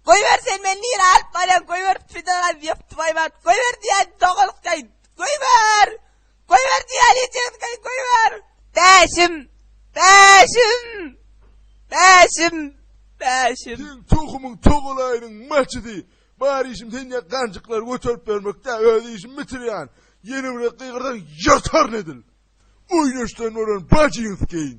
Goýber sen meni nire alyp barýaň, goýber Fidan abi ýapdy baýbat. Goýber diýen dogalykdaý. Goýber! Goýber diýen ýetýänkaý goýber. Bäşim! Bäşim! Bäşim! Bäşim! Seň tohumyň togalaýynyň maçydy. Bar işim sen ýa ganjyklary göterip bermekdä, öz işimi bitirýän. Ýene bir gezek gygyrsaň ýyrtaryn edil. Oýnaşdan bolan bajyňyz keýin.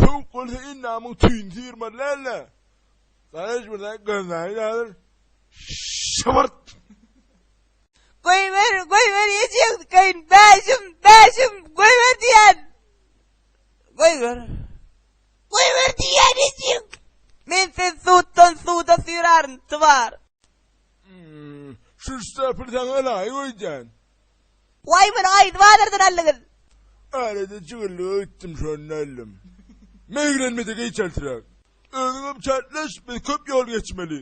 Sowuk bolsa endamyň tüýüni syýrmaly däl-de. Garaş bir zat gözläýin häzir. Şybyrt! Goýber, goýber ýejegiňkäýin, bäşim, bäşim, goýber diýýän. Goýber. Goýber diýýän ejek. Men seni suwdan suwda süýrärin, twar. Şu ştapyry saňa laýyk öýdýän. Waý muny gaýdy bazardan aldyňyz. Arada jigirlik öýtdüm şonda aldym. Meýgirenmede geý çältiräk. Özüňem çältleş biz köp ýol geçmeli.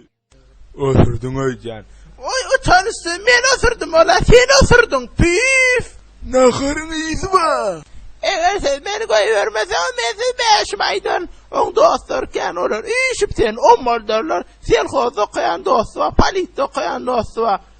Osurdyň öýdýän. Oý utançsyz men osurdym ola sen osurdyň püýf. Naharyň ysy ba. Eger siz meni goýbermeseňiz men sizi bäşim aýdaryn. Oň dostlary kän olar üýşüp seni ommaldarlar. Selhozda okaýan dosty bar, politde okaýan dosty bar.